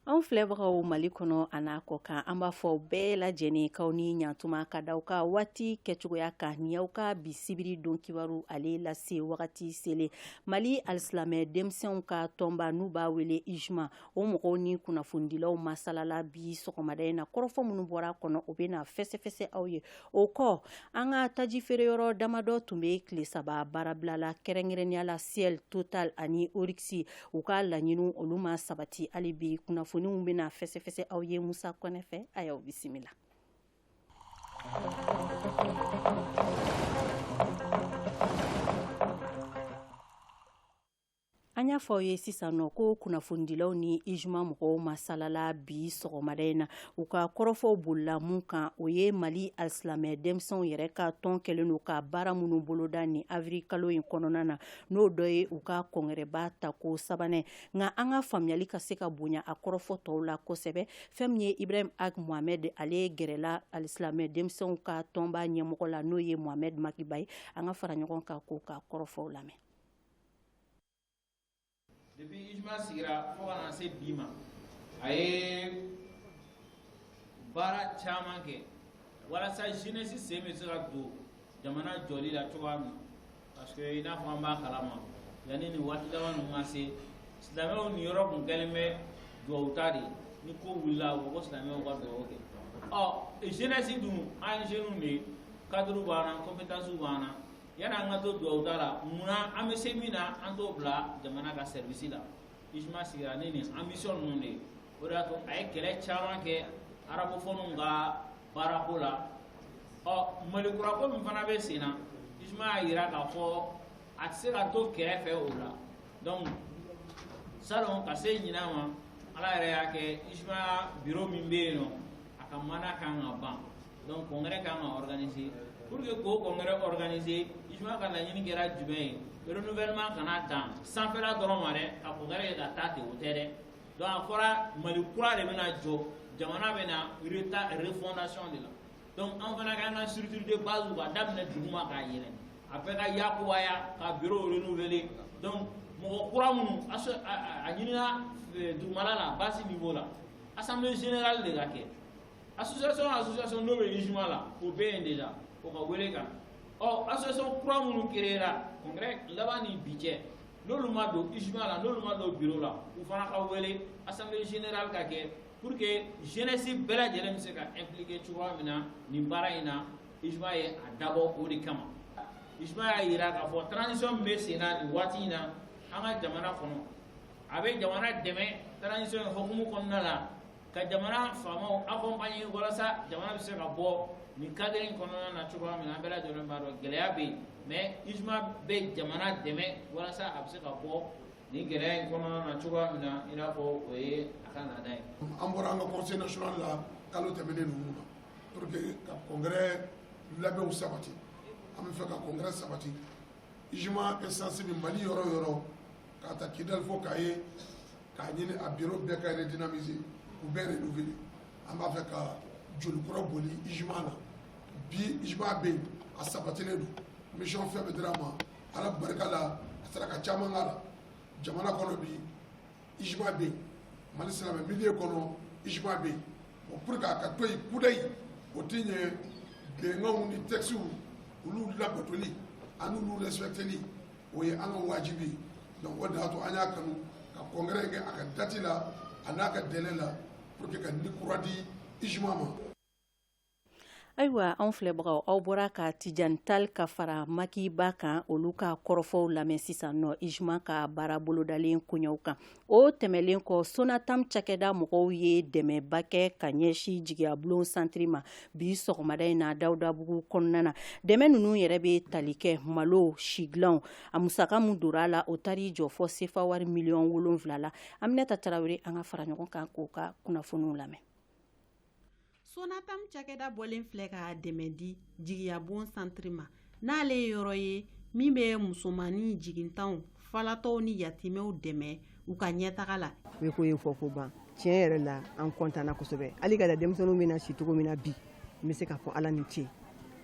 Anw filɛbagaw mali kɔnɔ a n'a kɔ kan an b'a fɔ bɛɛ lajɛlen k'aw ni ɲa tuma ka da aw ka waati kɛcogoya kan ni aw ka bi sibiri don kibaru ale lase wagati selen mali alisilamɛ denmisɛnw ka tɔnba n'u b'a wele ijma o mɔgɔw ni kunnafonidilaw masalala bi sɔgɔmada in na kɔrɔfɔ minnu bɔra a kɔnɔ o bɛ na fɛsɛfɛsɛ aw ye O kɔ an ka taji feere yɔrɔ damadɔ tun bɛ tile saba baarabila la kɛrɛnkɛrɛnnenya la Shell Total ani Oryx u ka laɲini olu ma sabati hali bi kunnafoniw bɛna fɛsɛfɛsɛ aw ye musa kɔnɛ fɛ a y'aw bisimila An y'a fɔ aw ye sisan nɔ ko kunnafonidilaw ni IJMA mɔgɔw masalala bi sɔgɔmada in na, u ka kɔrɔfɔw bolila mun kan, o ye Mali alisilamɛ denmisɛnw yɛrɛ ka tɔn kɛlen don ka baara minnu boloda nin avril kalo in kɔnɔna na, n'o dɔ ye u ka kɔngɛrɛba tako sabanan ye, nka an ka faamuyali ka se ka bonya a kɔrɔfɔ tɔw la kosɛbɛ, fɛn min ye Ibrahim Ag Mohamɛdi ale gɛrɛla alisilamɛ denmisɛnw ka tɔnba ɲɛmɔgɔ la n'o ye Mohamɛdi Maki Ba ye, an ka fara ɲɔgɔn kan k'o ka kɔrɔfɔw lamɛn. depuis ijma sigira fo ka na se bi ma a ye baara caman kɛ walasa jeunesse sen bɛ se ka don jamana jɔli la cogoya min parce que i n'a fɔ an b'a kalama yanni nin waati dama ninnu ka se silamɛw niyɔrɔ kun kɛlen bɛ duwawu ta de ye ni ko wulila u ko silamɛw ka duwawu kɛ ɔ jeunesse dun an ye jeunes de ye cadre b'an na compétence b'an na Yani an ka to duwawu da la munna an bɛ se min na an t'o bila jamana ka service la ijma sigira ni nin ambition ninnu de o de y'a to a ye kɛlɛ caman kɛ arabophonew ka baarako la ɔ mali kurako min fana bɛ sen na ijma y'a yira k'a fɔ a tɛ se ka to kɛrɛfɛ o la donc salon ka se ɲinan ma ala yɛrɛ y'a kɛ ijma bureau min bɛ yen nɔ a ka mandat kan ka ban donc congrès kan ka organiser pour que k'o congrès organiser ijma ka laɲini kɛra jumɛn ye renouvellement kana dan sanfɛla dɔrɔn ma dɛ ka congrès kɛ ka taa ten o tɛ dɛ donc a fɔra mali kura de bɛna jɔ jamana bɛna refondation de la donc an fana k'an ka structure de base ka daminɛ duguma k'a yɛlɛ a bɛɛ ka yakubaya ka bureau renouveler donc mɔgɔ kura minnu a ɲinina dugumala la base niveau la assemblée générale de ka kɛ association association n'o bɛ UJMMA la o bɛ yen déjà o ka wele ka na ɔ association kura minnu créera congrès laban ni bi cɛ n'olu ma don UJMMA la n'olu ma don biro la u fana ka wele assemblée générale ka kɛ pour que jeunesse bɛɛ lajɛlen bɛ se ka impliquer cogoya min na nin baara in na UJMMA ye a dabɔ o de kama UJMMA y'a yira k'a fɔ transition min bɛ sen na nin waati in na an ka jamana kɔnɔ a bɛ jamana dɛmɛ transition in hukumu kɔnɔna la ka jamana faamaw accompagner walasa jamana bɛ se ka bɔ nin cadre in kɔnɔna na cogoya min na an bɛɛ lajɛlen b'a dɔn gɛlɛya bɛ yen mais UJMMA bɛ jamana dɛmɛ walasa a bɛ se ka bɔ nin gɛlɛya in kɔnɔna na cogoya min na i n'a fɔ o ye a ka laada ye. an bɔra an ka conseil national la kalo tɛmɛnen ninnu na pour que ka congrès labɛnw sabati an b'a fɛ ka congrès sabati UJMMA instance bɛ Mali yɔrɔ o yɔrɔ k'a ta Kidali fo Kaye k'a ɲini a biro bɛɛ ka redynamiser k'u bɛɛ renouveler an b'a fɛ ka joli kura boli UJMMA na bi UJMMA bɛ yen a sabatilen don mission fɛn bɛ dira a ma ala barika la a sera ka caman k'a la jamana kɔnɔ bi UJMMA bɛ yen mali silamɛ milieu kɔnɔ UJMMA bɛ yen bon pour que a ka to yen kudayi o tɛ ɲɛ bɛnkanw ni textes olu labatoli ani olu respecteli o ye an ka wajibi ye donc o de y'a to an y'a kanu ka congrès kɛ a ka date la a n'a ka délai la pour que ka ni kura di UJMMA ma ayiwa anw filɛbagaw aw bɔra ka tijan tali ka fara Maki Ba kan olu ka kɔrɔfɔw lamɛn sisan nɔ UJMMA ka baara bolodalen koɲɛw kan o tɛmɛlen kɔ Sonatam cakɛda mɔgɔw ye dɛmɛba kɛ ka ɲɛsin Jigiyabon centre ma bi sɔgɔmada in na dawudabugu kɔnɔna na dɛmɛ ninnu yɛrɛ bɛ tali kɛ malo si dilanw a musaka min dora a la o taar'i jɔ fɔ sefa wari miliyɔn wolonwula la Aminata Tarawele an ka fara ɲɔgɔn kan k'o ka kunnafoniw lamɛn Sonatam cakɛda bɔlen filɛ ka dɛmɛ di Jigiyabon centre ma n'ale ye yɔrɔ ye min bɛ musomannin jigintanw falatɔw ni yatimɛw dɛmɛ u ka ɲɛtaga la yeko ye fɔko ban tiɲɛ yɛrɛ la an kɔntanna kosɛbɛ hali ka da denmisɛnninw bɛna si cogo min na bi n bɛ se k'a fɔ ala ni ce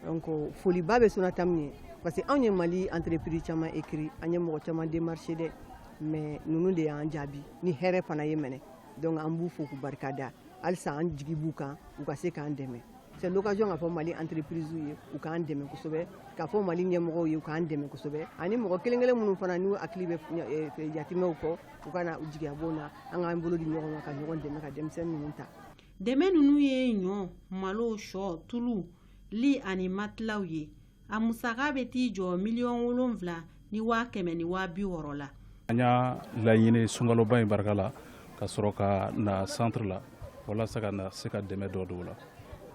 donc foliba bɛ Sonatam ye parce que anw ye mali entreprise caman écrit an ye mɔgɔ caman démarcher dɛ mais ninnu de y'an jaabi ni hɛrɛ fana ye minɛ donc an b'u fo k'u barika da halisa an jigi b'u kan u ka se k'an dɛmɛ c'est l'occasion k'a fɔ mali entreprisew ye u k'an dɛmɛ kosɛbɛ k'a fɔ mali ɲɛmɔgɔw ye u k'an dɛmɛ kosɛbɛ ani mɔgɔ kelen kelen minnu fana n'u hakili bɛ yatimɛw kɔ u ka na Jigiyabon na an k'an bolo di ɲɔgɔn ma ka ɲɔgɔn dɛmɛ ka denmisɛnnin ninnu ta dɛmɛ ninnu ye ɲɔ malo shɔ tulu li ani matilaw ye a musaka bɛ t'i jɔ miliyɔn wolonwula ni waa kɛmɛ ni waa bi wɔɔrɔ la an y'a laɲini sunkaloba in barika la ka sɔrɔ ka na centre la walasa ka na se ka dɛmɛ dɔ don u la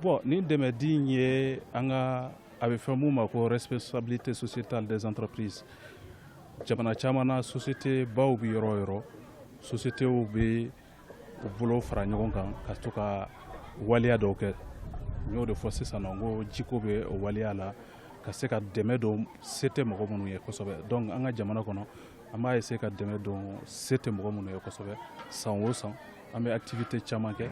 bon nin dɛmɛ di in ye an ka a bɛ fɛn mun ma ko responsabilité sociétale des entreprises jamana caman na société baw bɛ yɔrɔ o yɔrɔ sociétéw bɛ u bolo fara ɲɔgɔn kan ka to ka waleya dɔw kɛ n y'o de fɔ sisan nɔ n ko jiko bɛ o waleya la ka se ka dɛmɛ don se tɛ mɔgɔ minnu ye kosɛbɛ donc an ka jamana kɔnɔ an b'a essayer ka dɛmɛ don se tɛ mɔgɔ minnu ye kosɛbɛ san o san an bɛ activité caman kɛ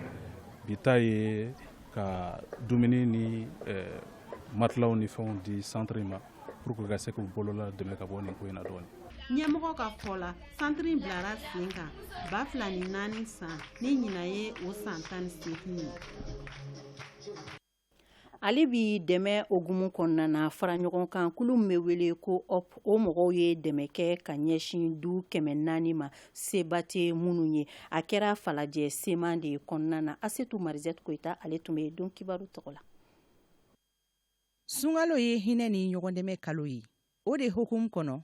bi ta ye ka dumuni ni eh, matilaw ni fɛnw di centre in ma pour que ka se k'u bolola dɛmɛ ka bɔ nin ko in na dɔɔni ɲɛmɔgɔ ka fɔ la centre in bilara sen kan ba fila ni naani san ni ɲina ye o san tan ni seegin ye hali bi dɛmɛ hukumu kɔnɔna na fara ɲɔgɔn kan kulu min bɛ wele ko hope o mɔgɔw ye dɛmɛ kɛ ka ɲɛsin du kɛmɛ naani ma seba tɛ minnu ye a kɛra falajɛ sema de kɔnɔna na asetu marizɛti koyita ale tun bɛ yen don kibaru tɔgɔ la sunkalo ye hinɛ ni ɲɔgɔndɛmɛ kalo ye o de hukumu kɔnɔ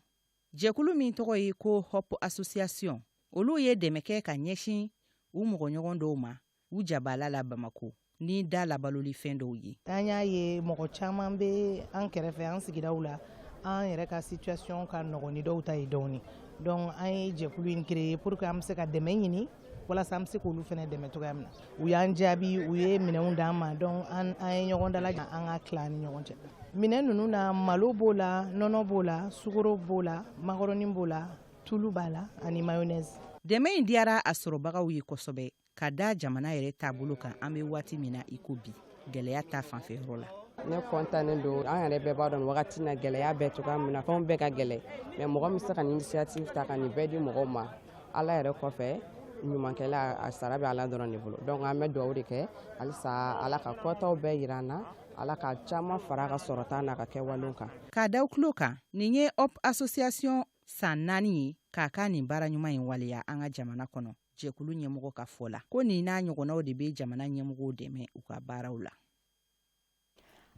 jɛkulu min tɔgɔ ye ko hope association olu ye dɛmɛ kɛ ka ɲɛsin u mɔgɔɲɔgɔn dɔw ma u jabaala la bamako ni da labaloli fɛn dɔw ye an y'a ye mɔgɔ caman bɛ an kɛrɛfɛ an sigidaw la an yɛrɛ ka situation ka nɔgɔn ni dɔw ta ye dɔɔni donc an ye jɛkulu in créer pour que an bɛ se ka dɛmɛ ɲini walasa an bɛ se k'olu fana dɛmɛ cogoya min na u y'an jaabi u ye minɛnw d'an ma donc an an ye ɲɔgɔn dalajɛ an k'a tila an ni ɲɔgɔn cɛ minɛn ninnu na malo b'o la nɔnɔ b'o la sukoro b'o la makɔrɔni b'o la tulu b'a la ani mayonnaise dɛmɛ in diyara a sɔrɔbagaw ye kosɛbɛ ka da jamana yɛrɛ taabolo kan an bɛ waati min na i ko bi gɛlɛya ta fanfɛ yɔrɔ la ne kɔntannen don an yɛrɛ bɛɛ b'a dɔn wagati na gɛlɛya bɛ cogoya min na fɛnw bɛɛ ka gɛlɛ mais mɔgɔ min se ka nin initiative ta ka nin bɛɛ di mɔgɔw ma ala yɛrɛ kɔfɛ ɲumankɛla a sara bɛ ala dɔrɔn de bolo donc an bɛ dugawu de kɛ halisa ala ka kɔtaw bɛɛ yira an na ala ka caman fara a ka sɔrɔta n'a ka kɛwalew kan k'a d'aw tulo kan nin ye hope association san naani ye k'a ka nin baara ɲuman in waleya an ka jamana kɔnɔ jɛkulu ɲɛmɔgɔ ka fɔ la ko nin n'a ɲɔgɔnnaw de bɛ jamana ɲɛmɔgɔw dɛmɛ u ka baaraw la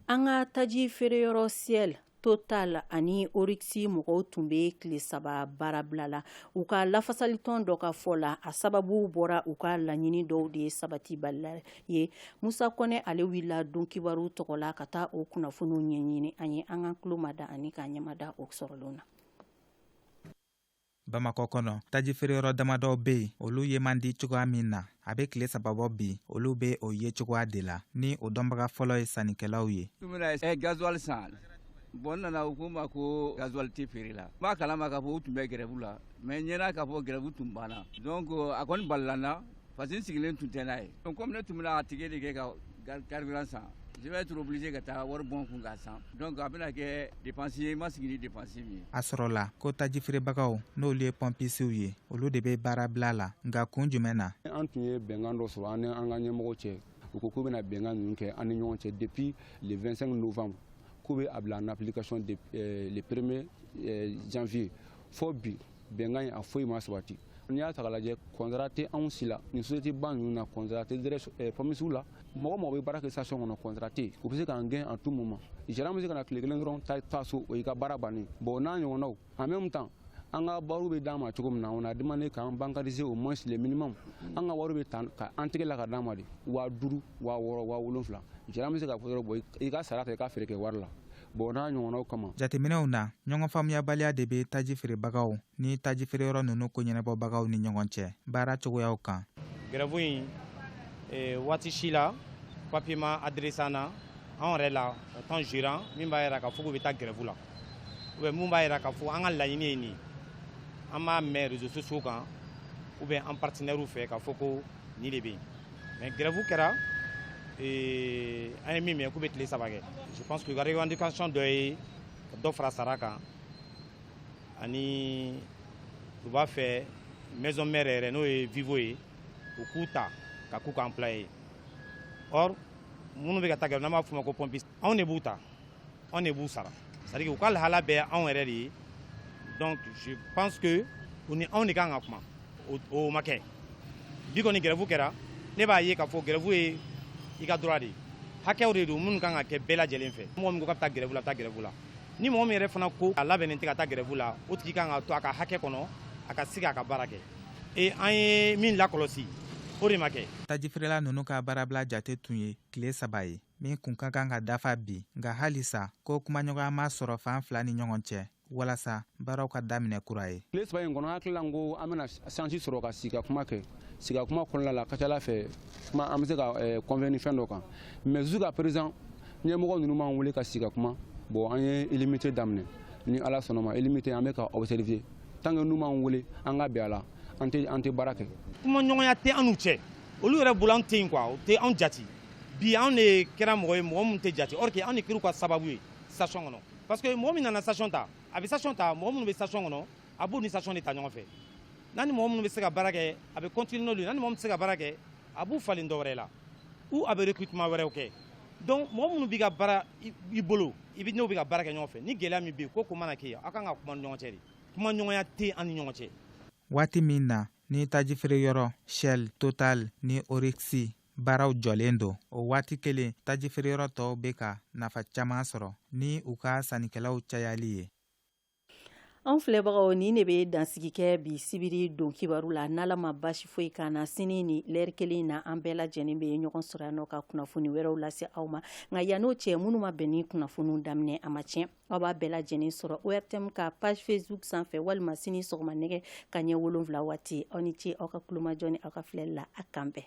an ka taji feereyɔrɔ shell total ani oryx mɔgɔw tun bɛ tile saba baarabila la u ka lafasalitɔn dɔ ka fɔ la a sababu bɔra u ka laɲini dɔw de sabatibaliya ye musa kɔnɛ ale wulila don kibaru tɔgɔ la ka taa o kunnafoniw ɲɛɲini a ye an ka tulo mada ani ka ɲɛ mada o sɔrɔlen na bamakɔ kɔnɔ taji feereyɔrɔ damadɔw be yen olu ye man di cogoya min na a be kile saba bɔ bi olu be o ye cogoya de la ni o dɔnbaga fɔlɔ ye sannikɛlaw ye eh, gazuwal san bɔn n nana u ko n ma ko gazuwal tɛ feere la n b'a kalama k'a fɔ u tun bɛ grève la mais n ɲɛ na k'a fɔ grève tun banna donc a kɔni balila n na parce que n sigilen tun tɛ n'a ye kɔmi ne tun bɛna ticket de kɛ ka carburant san je vais être obligé ka taa wari bɔ n kun k'a san donc a bɛna kɛ dépense ye n ma sigi ni dépense min ye a sɔrɔla ko tajifeerebagaw n'olu ye pɔnpisiw ye olu de bɛ baarabila la nka kun jumɛn na an tun ye bɛnkan dɔ sɔrɔ an n'an ka ɲɛmɔgɔw cɛ u ko k'u bɛna bɛnkan ninnu kɛ an ni ɲɔgɔn cɛ depuis le 25 novembre k'u bɛ a bila en application le premier janvier fɔ bi bɛnkan in a foyi ma sabati n'i y'a ta k'a lajɛ kɔntara tɛ anw si la nin société ba ninnu na kɔntara tɛ direct eh, pɔnpisiw la mɔgɔ mɔgɔ bɛ baara kɛ station kɔnɔ kɔntara tɛ u bɛ se k'an gɛn à tout moment gérant bɛ se ka na tile kelen dɔrɔn ta taa so o y'i ka baara bannen bon o n'a ɲɔgɔnnaw en même temps an ka wariw bɛ d'an ma cogo min na on a demandé k'an bancariser au moins le minimum an ka wariw bɛ ta ka an tɛgɛ la ka d'an ma de waa duuru waa wɔɔrɔ waa wolonfila gérant bɛ se k'a fɔ dɔrɔn bon i ka sara ta i ka feere kɛ wari la bɔn n'a ɲɔgɔnnaw kama jateminɛw na ɲɔgɔn faamuyabaliya de bɛ taji feerebagaw ni taji feereyɔrɔ ninnu ko ɲɛnabɔbagaw ni ɲɔgɔn cɛ baara cogoyaw kan gɛrɛfu in e, waati si la papier ma adressé an na an yɛrɛ la en tant que gérant min b'a yira k'a fɔ k'u bɛ taa gɛrɛfu la ou bien min b'a yira k'a fɔ an ka laɲini ye nin ye an b'a mɛn réseaux sociaux kan ou bien an partenairew fɛ k'a fɔ ko nin de bɛ yen Mais grève kɛra ee, an ye min mɛn k'u bɛ tile saba kɛ je pense que u ka revendication dɔ ye ka dɔ fara sara kan ani u b'a fɛ maison mère yɛrɛ n'o ye vivo ye u k'u ta ka k'u ka employé ye or minnu bɛ ka taa grève n'an b'a f'u ma ko pompiste anw de b'u ta anw de b'u sara c'est à dire u ka lahala bɛɛ anw yɛrɛ de ye donc je pense que u ni anw de kan ka kuma o ma kɛ bi kɔni gɛrɛfu kɛra ne b'a ye k'a fɔ gɛrɛfu ye i ka droit de ye hakɛw de don minnu kan ka kɛ bɛɛ lajɛlen fɛ mɔgɔ min ko k'a bɛ taa gɛrɛfu la a bɛ taa gɛrɛfu la ni mɔgɔ min yɛrɛ fana ko a labɛnnen tɛ ka taa gɛrɛfu la o tigi kan ka to a ka hakɛ kɔnɔ a ka sigi a ka baara kɛ e an ye min lakɔlɔsi o de ma kɛ tajifeerela ninnu ka baarabila jate tun ye tile saba ye min kun ka kan ka dafa bi nka halisa ko kumaɲɔgɔnya ma sɔrɔ fan fila ni ɲɔgɔn cɛ walasa baaraw ka daminɛ kura ye tile saba in kɔnɔ an hakili la ko an bɛna sansi sɔrɔ ka sigi ka kuma kɛ sigi ka kuma kɔnɔna la ka ca ala fɛ kuma an bɛ se ka convenir eh, fɛn dɔ kan mais jusqu'à présent ɲɛmɔgɔ ninnu m'an wele ka sigi ka kuma bɔn an ye illimité daminɛ ni ala sɔnna a ma illimité an bɛ k'a observer tant que n'u m'an wele an ka bɛn a la an tɛ baara kɛ kumaɲɔgɔnya tɛ an n'u cɛ olu yɛrɛ bolo an tɛ yen quoi u tɛ anw jate bi anw de kɛra mɔgɔ ye mɔgɔ min tɛ jate or que anw de kɛra u ka sababu ye station kɔnɔ parce que mɔgɔ min nana station ta a bɛ station ta mɔgɔ minnu bɛ station kɔnɔ a b'u ni station de ta ɲɔgɔn fɛ n'a ni mɔgɔ minnu bɛ se ka baara kɛ a bɛ continuer n'olu ye n'a ni mɔgɔ min tɛ se ka baara kɛ a b'u falen dɔ wɛrɛ la ou a bɛ recrutement wɛrɛw kɛ donc mɔgɔ minnu bɛ ka baara i bolo i bɛ n'o bɛ ka baara kɛ ɲɔgɔn fɛ ni gɛlɛya min bɛ yen ko ko mana kɛ yen aw kan ka kuma ni ɲɔgɔn cɛ de kumaɲɔgɔnya tɛ yen an ni ɲɔgɔn cɛ waati min na ni tajifeereyɔrɔ shell total ni oryx baaraw jɔlen don o waati kelen tajifeereyɔrɔ tɔw bɛ ka nafa caman sɔrɔ ni u ka sannikɛlaw cayali ye an filɛbagaw nin de bɛ dansigi kɛ bi sibiri don kibaru la n'ala ma basi foyi k'an na sini nin lɛri kelen in na an bɛɛ lajɛlen bɛ ɲɔgɔn sɔrɔ yan nɔ ka kunnafoni wɛrɛw lase aw ma nka yann'o cɛ minnu ma bɛn ni kunnafoniw daminɛ a ma tiɲɛ Aw b'a bɛɛ lajɛlen sɔrɔ ORTM ka page Facebook sanfɛ walima sini sɔgɔma nɛgɛ kanɲɛ 7 waati aw ni ce aw ka tulomajɔ ni aw ka filɛli la a k'an bɛn